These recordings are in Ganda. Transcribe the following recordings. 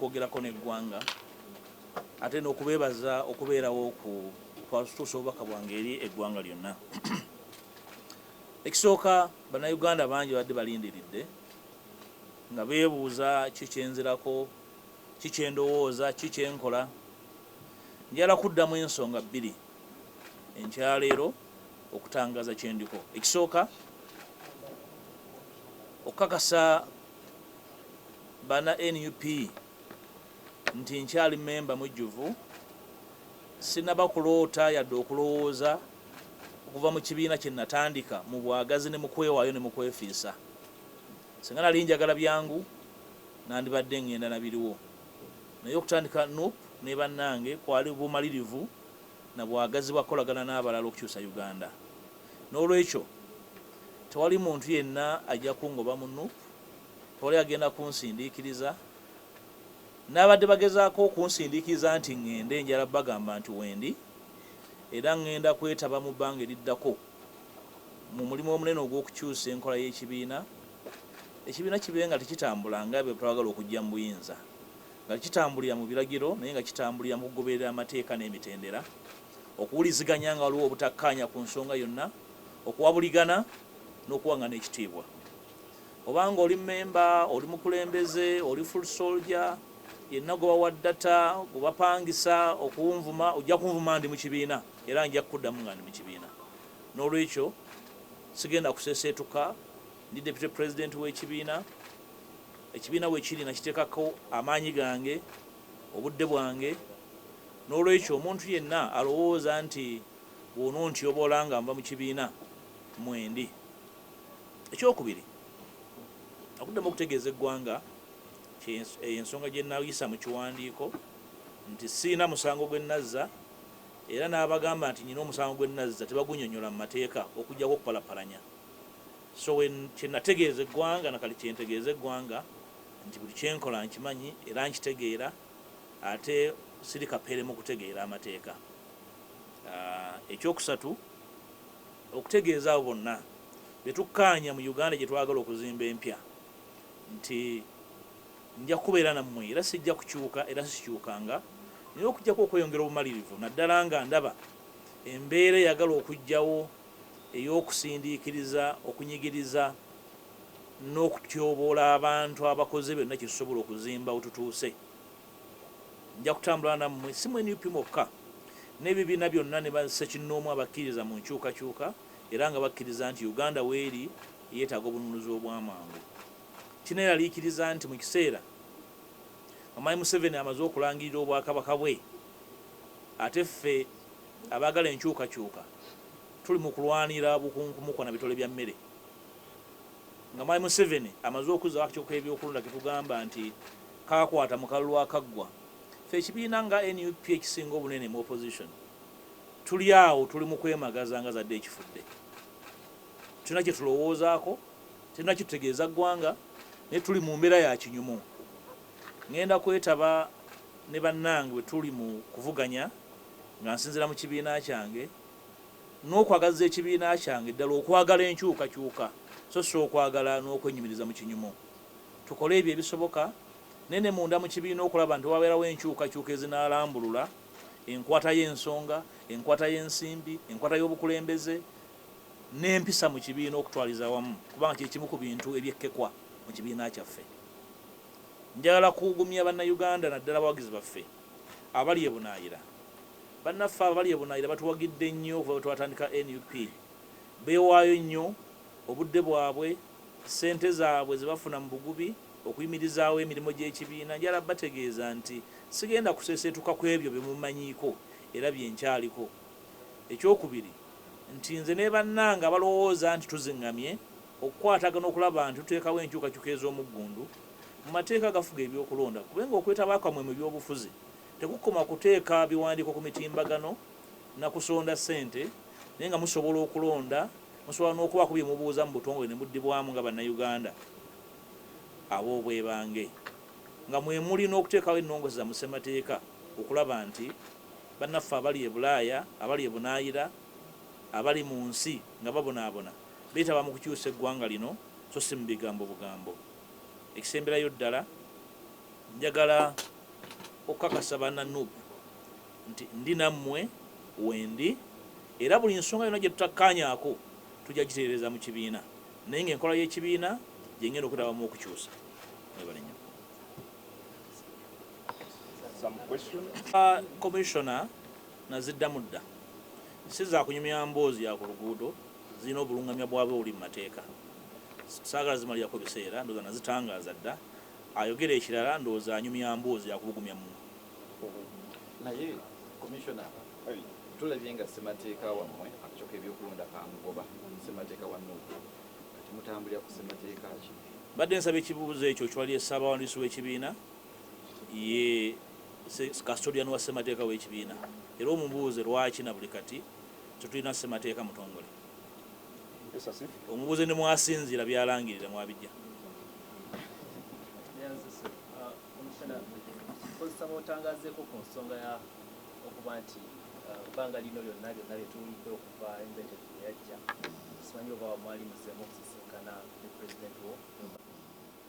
okwogerako n'eggwanga ate n'okubeebaza okubeerawo ku kwatutuusa obubaka bwange eri eggwanga lyonna ekisooka bannayuganda bangi badde balindiridde nga beebuuza kikyenzirako kikyendowooza kikyenkola njala kuddamu ensonga bbiri enkyaleero okutangaza kyendiko ekisooka okukakasa bana nup nti nkyali member mujjuvu sinaba kuloota yadde okulowooza okuva mu kibiina kye natandika mu bwagazi ne mu kwewaayo ne mu kwefiisa. Singa nali njagala byangu nandibadde ngenda na biriwo naye okutandika nup ne bannange kwali bumalirivu na bwagazi bwa kukolagana n'abalala okukyusa Uganda. N'olwekyo tewali muntu yenna ajja kungoba mu nup, tewali agenda kunsindiikiriza. N'ababadde bagezaako okunsindiikiriza nti ng'ende njala bagamba nti wendi era ng'enda kwetaba mu bbanga eriddako mu mulimu omunene ogw'okukyusa enkola y'ekibiina, ekibiina kibe nga tekitambula nga be twagala okuggya mu buyinza, nga tekitambulira mu biragiro naye nga kitambulira mu kugoberera amateeka n'emitendera. okuwuliziganya nga waliwo obutakkaanya ku nsonga yonna, okuwabuligana n'okuwang'ana ekitiibwa. Oba nga oli mmemba, oli mukulembeze, oli full soldier, yenna gwe bawa data, gwe bapangisa okunvuma, ojja kunvuma ndi mu kibiina era nja kukuddamu nga ndi mu kibiina. N'olwekyo sigenda kuseeseetuka, ndi Deputy President w'ekibiina, ekibiina we kiri nakiteekako amaanyi gange, obudde bwange, N'olwekyo omuntu yenna alowooza nti bw'onontyobola nga nva mu kibiina mwendi, eky'okubiri nakuddamu okutegeeza eggwanga nti eyo ensonga gye nayisa mu kiwandiiko nti sirina musango gwe nazza era n'abagamba nti nnina omusango gwe nazza tebagunyonyola mu mateeka okuggyako okupalapalanya so kye nategeeza eggwanga na kati kye ntegeeza eggwanga nti buli kye nkola nkimanyi era nkitegeera. ate siri kapere mu kutegeera amateeka. Eky'okusatu, okutegeeza abo bonna be tukkaanya mu Uganda gye twagala okuzimba empya nti nja kubeera nammwe era sijja kukyuka era sikyukanga naye okuggyako okweyongera obumalirivu naddala nga ndaba embeera eyagala okujjawo ey'okusindiikiriza, okunyigiriza, n'okutyoboola abantu abakoze byonna kye tusobola okuzimba we tutuuse. Nja kutambula nammwe, si mu nup mwokka, n'ebibiina byonna ne bassekinnoomu abakkiririza mu nkyukakyuka era nga bakkiriza nti Uganda w'eri eyeetaaga obununuzi obw'amangu. Kinneeraliikiriza nti mu kiseera Kamayi Museveni amaze okulangirira Obwakabaka bwe, ate ffe abaagala enkyukakyuka tuli mu kulwanira bukunkumu kwa na bitole bya mmere. nga mwami Museveni amaze okuzza akatiko k'ebyokulonda ke tugamba nti kaakwata mu kalulu akaggwa, ffe ekibiina nga nup ekisinga obunene mu opposition tuli awo tuli mu kwemagaza nga zadde ekifudde. Tetulina kye tulowoozaako, tetulina kye tutegeeza ggwanga naye tuli mu mbeera ya kinyumu. Ng'enda kwetaba ne bannange bwe tuli mu kuvuganya nga nsinziira mu kibiina kyange. n'okwagazza ekibiina kyange ddala okwagala enkyukakyuka so si okwagala n'okwenyumiriza mu kinyumu. Tukole ebyo ebisoboka naye ne munda mu kibiina okulaba nti wabeerawo enkyukakyuka ezinaalambulula enkwata y'ensonga, enkwata y'ensimbi, enkwata y'obukulembeze n'empisa mu kibiina okutwaliza awamu kubanga kye kimu ku bintu ebyekkekwa mu kibiina kyaffe. Njagala kuugumya Bannayuganda naddala abawagizi baffe. Abali ebunaayira, Bannaffe abali ebunaayira batuwagidde nnyo okuva bwe twatandika nup. Beewaayo nnyo, obudde bwabwe, ssente zaabwe ze bafuna mu bugubi, okuyimirizaawo emirimu gy'ekibiina. Njagala bategeeza nti sigenda kuseeseetuka ku ebyo bye mummanyiiko era bye nkyaliko. Ekyokubiri nti nze ne bannange abalowooza nti tuzing'amye okukwatagana okulaba nti tuteekawo enkyukakyuka ez'omuggundu, mu mateeka agafuga eby'okulonda kube ng'okwetaba kwamwe mu by'obufuzi tekukoma kuteeka biwandiiko ku mitimbagano na kusonda ssente naye nga musobola okulonda, musobola n'okubaako bye mubuuza mu butongole ne muddibwamu nga Bannayuganda ab'obwebange nga mwe muli n'okuteekawo ennongoose zammwe Ssemateeka okulaba nti bannaffe abali e Bulaaya, abali e bunaayira, abali mu nsi nga babonaabona beetaba mu kukyusa eggwanga lino so si mu bigambo bugambo. Ekisemberayo ddala njagala okukakasa banna nup nti ndi nammwe wendi era buli nsonga yonna gye tutakkaanyaako tujja gitereereza mu kibiina naye ng'enkola y'ekibiina gye ngenda okwetabamu okukyusa. Mwebale nnyo. Commissioner naziddamu dda si za kunyumya mboozi ya ku luguudo. Zirina obulungamya bwabwe obuli mu mateeka. Saagala zimalirako biseera, ndowooza nazitangaaza dda. Ayogera ekirala ndowooza anyumya mboozi ya kubugumya mu. Naye Commissioner, tulabye nga ssemateeka wammwe akcoka ebyokulonda kaamugoba, ssemateeka wa nup. Kati mutambulira ku ssemateeka ki? Mbadde nsaba ekibuuzo ekyo kyewali ye Ssaabawandiisi w'ekibiina, ye Custodian wa ssemateeka w'ekibiina era omubuuze lwaki na buli kati Tetulina ssemateeka mutongole. Omubuuze ne mw'asinziira by'alangirira mw'abijja. Nkozesa b'otangazeeko ku nsonga ya okuba nti ebbanga lino lyonna byonna bye tuwulidde okuva embete gye yajja simanyi oba mwali muzzeemu okusisinkana ne pulezidenti wo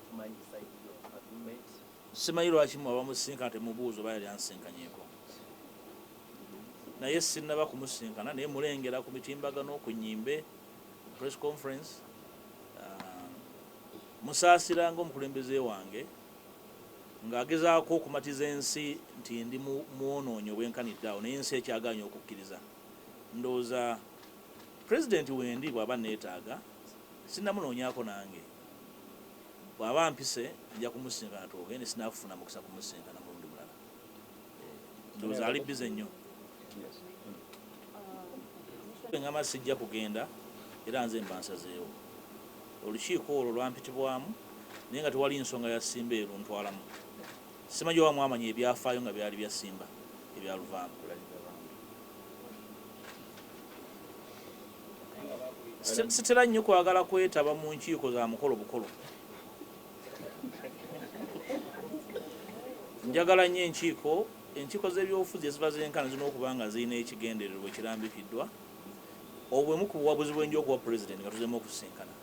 tumanyi sayidi yo agreement Simanyi lwaki mmwe abamusisinkana temubuuza oba yali ansinkanyeko. Naye sinnaba kumusisinkana naye mmulengera ku mitimbagano, ku nnyimbe, ku press conference. Mmusaasira ng'omukulembeze wange ng'agezaako okumatiza ensi nti ndi mwonoonyi obwenkanidde awo naye ensi ekyagaanyi okukkiriza. Ndowooza Pulezidenti wendi bw'aba anneetaaga, sinnamunoonyako nange. Bwaba ampise nja kumusisinkana twogende sinakufuna mukisa kumusisinkana mulundi mulala eh, ndowooza ali bize nnyo ngamba sijja kugenda era nze mba nsazeewo olukiiko olwo lwampitibwamu naye nga tewali nsonga ya simba eruntwalamu simanyi oba mwamanya ebyafaayo nga byali bya simba ebyaluvaamu Sitera nnyo kwagala kwetaba mu nkiiko za mukolo bukolo. Njagala nnyo enkiiko enkiiko z'ebyobufuzi eziba zenkana zirina okuba nga zirina ekigendererwa ekirambikiddwa. Obwo bwe bumu ku buwabuzi bwe nja okuwa Pulezidenti nga tuzzeemu okusisinkana.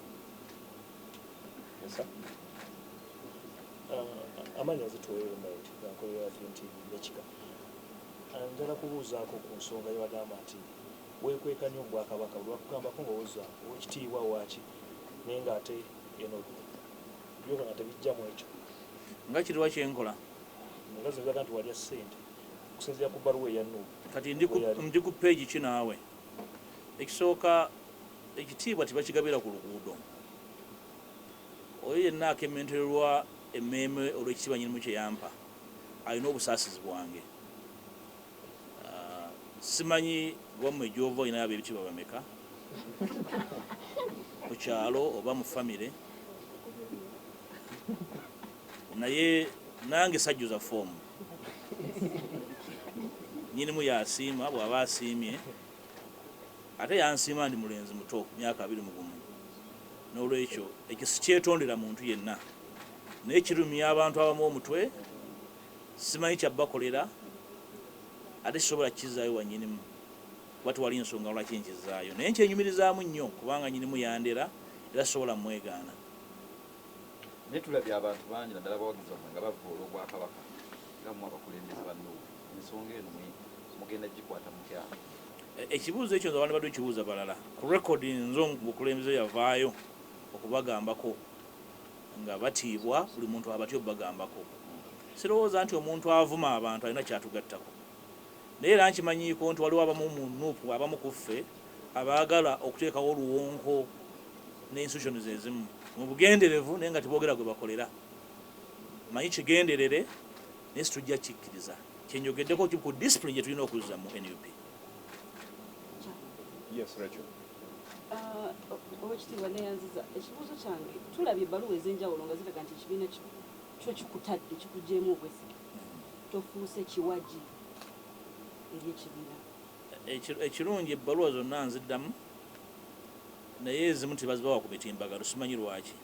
Uh, amaanyi azituweeremu nti akolera nti nekika njala kubuuzaako ku nsonga yebagamba nti Wekweka nyo obwakabaka bwebakugambako nga owoza owekitiibwa waki naye nga ate eno byokola nga tebijja mwekyo. Nga kiriwa kyenkola. Nga zino zilaga nti walya sente okusinzira ku baluwa eya Nup Kati ndi ku weyali. ndi ku page ki naawe? Ekisooka ekitiibwa tebakigabira ku luguudo. Oyo yenna akementererwa emmeeme olw'ekitiibwa Nyinimu kye yampa alina obusaasizi bwange. Simanyi wamwe gyova olinayo abebitiibwa bameka ku kyalo oba mu famire, naye nange sajjuza foomu. Nyinimu yasiima bwaba asiimye, ate yansiima ndi mulenzi muto myaka abiri mu gumu, n'olwekyo ekyo sikyetondera muntu yenna, naye kirumya abantu abamu omutwe. Simanyi kya bakolera ate sisobola kukizaayo wa nyinimu kuba tewali nsonga lwaki nkizaayo naye nkyenyumirizaamu nnyo kubanga nyinimu yandera era sisobola mwegaana. Naye tulabye abantu bangi naddala abawagizi bammwe nga bavvoola Obwakabaka nga mmwe abakulembeze ba Nup. Ensonga eno mugenda kugikwata mutya? Ekibuuzo ekyo nze wandibadde okibuuza balala. Ku record nze omu ku bakulembeze eyavaayo okubagambako. nga batiibwa buli muntu abatya obubagambako. Sirowooza nti omuntu avuma abantu alina ky'atugattako naye era nkimanyiiko nti waliwo abamu mu nup abamu ku ffe abaagala okuteekawo oluwonko ne institutions ezimu mu bugenderevu naye nga teboogera gwe bakolera. Mmanyi kigenderere naye situjja kukikkiriza. Kye njogeddeko ki ku discipline gye tulina okuzza mu nup? Yes, Rachel. Owekitiibwa neyanziza ekibuuzo kyange tulabye ebbaluwa ezenjawulo nga ziraga nti ekibiina kyo kikutadde kikugyemu obwesige tofuuse kiwagi eri ekibiina. Ekirungi ebbaluwa zonna nziddamu naye ezimu tebazibawa ku mitimbagano simanyi lwaki.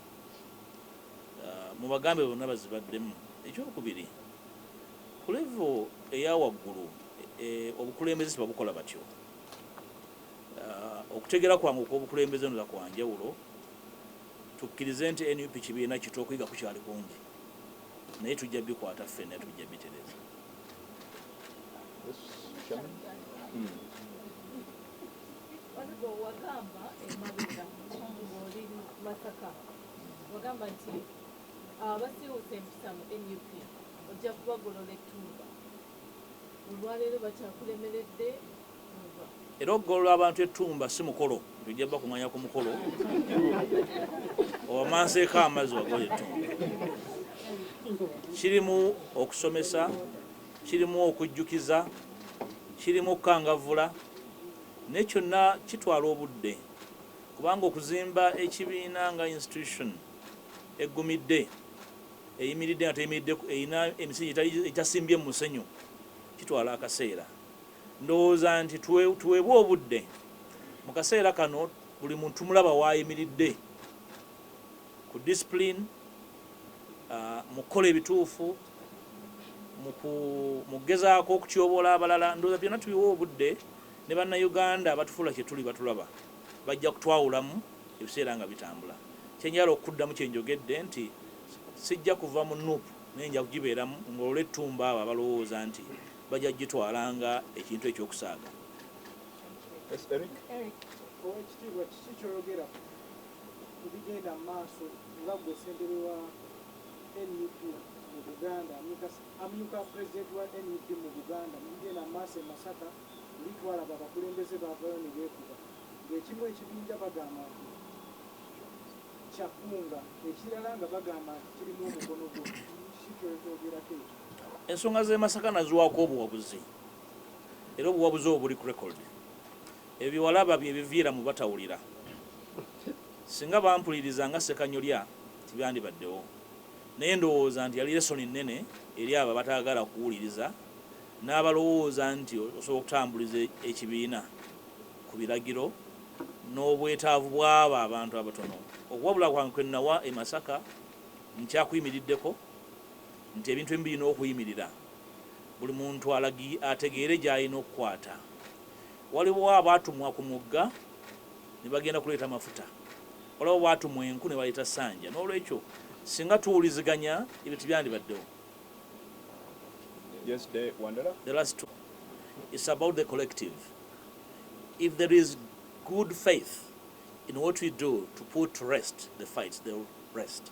Mubagambe bonna bazibaddemu. Ekyokubiri ku level eyawaggulu obukulembeze tebabukola batyo. Okutegera kwange okwobukulembeze nula kwanjawulo, tukkirize nti nup kibiina kito okuyiga kukyali kungi naye tujja bikwata ffena tujja bitereza. Era okugolola abantu ettumba si mukolo nti ojja bakunganya ku mukolo owamanseeko amazzi wagolola ettumba. Kirimu okusomesa, kirimu okujjukiza, kirimu okukangavvula naye kyonna kitwala obudde kubanga okuzimba ekibiina nga institution eggumidde, eyimiridde nga teyimiridde erina emisingi egitasimbye mu musenyu kitwala akaseera. Ndowooza nti tuweebwe obudde. Mu kaseera kano buli muntu tumulaba w'ayimiridde ku discipline, mu kukola ebituufu, mu kugezaako okutyoboola abalala. Ndowooza byonna tubiwe obudde ne Bannayuganda abatufuula kye tuli batulaba, bajja kutwawulamu ebiseera nga bitambula. Kye njagala okuddamu kye njogedde nti sijja kuva mu nup naye nja kugibeeramu ngolole ettumba abo abalowooza nti Bajja kugitwala nga ekintu eky'okusaaga. Yes, Eric. Eric. Owekitiibwa kiki kyoyogera ku bigenda mu maaso nga gwe ssentebe wa nup mu Buganda amyuka pulezidenti wa nup mu Buganda mu bigenda mu maaso e Masaka luli twalaba abakulembeze baavayo ne beekuba ng'ekimu ekibinja bagamba nti kya Kkunga ekirala nga bagamba nti kirimu omukono gwo kiki kyoyogerako ekyo? Ensonga z'e Masaka naziwaako obuwabuzi era obuwabuzi obwo buli ku record. Ebyo bye walaba bye biviira mu batawulira. Singa bampuliriza nga Ssekanyolya tebyandibaddewo. Naye ndowooza nti yali lesson nnene eri abo abataagala kuwuliriza n'abalowooza nti osobola okutambuliza ekibiina ku biragiro n'obwetaavu bw'abo abantu abatono. Okuwabula kwange kwe nawa e Masaka nkyakuyimiriddeko. nti ebintu ebimu birina okuyimirira buli muntu alagi ategeere gy'alina okukwata. Waliwo abaatumwa ku mugga ne bagenda kuleeta mafuta. Waliwo abaatumwa enku ne baleeta ssanja. N'olwekyo, singa tuwuliziganya, ebyo tebyandibaddewo. Yes, the wandala. The last two. It's about the collective. If there is good faith in what we do to put to rest the fights, they will rest.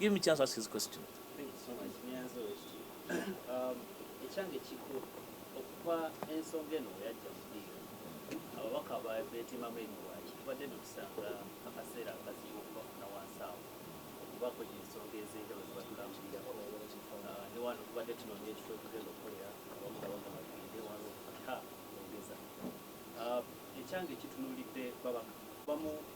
Give me chance to ask his question. Thank you so much. Nyanza West. Um, ekyange kikulu okuva ensonga eno yajja mu ddiiro ababaka beetimamu ebiwaaki tubadde netusanga akaseera akazibu okubafuna wansi awo okubako ensonga ez'enjawulo zebatulambulirako uh, ne wano tubadde tunoonya ekifo ekugenda okukolera abamu nga bagamba tugende wano okufata ogeza uh, ekyange kitunulidde babaka bamu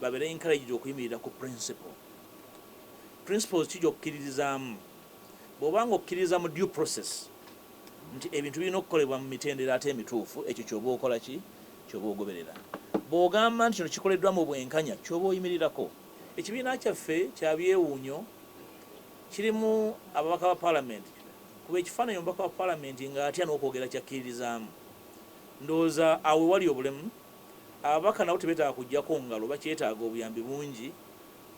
babere encouraged okuyimirira ku principle. Principles ki gy'okkiririzaamu? Bw'oba nga okkiririza mu due process nti ebintu birina okukolebwa mu mitendera ate emituufu, ekyo ky'oba okola ki? Ky'oba ogoberera. Bw'ogamba nti kino kikoleddwa mu bwenkanya, ky'oba oyimirirako. Ekibiina kyaffe kya byewuunyo, kirimu ababaka ba Palamenti. Kuba ekifaananyi omubaka wa Palamenti ng'atya n'okwogera ky'akkiririzaamu. Ndowooza awo we wali obulemu. Ababaka nabo tebetaaga kujjako ngalo bakyetaaga obuyambi bungi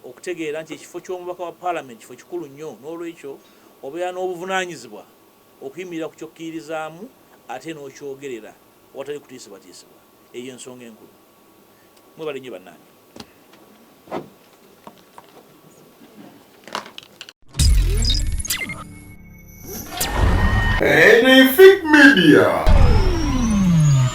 okutegeera nti ekifo ky'omubaka wa Palamenti kifo kikulu nnyo n'olwekyo obeera n'obuvunaanyizibwa okuyimirira ku ky'okkiririzaamu ate n'okyogerera awatali kutiisibwatiisibwa eyo y'ensonga enkulu. Mwebale nnyo bannange. Anything Media.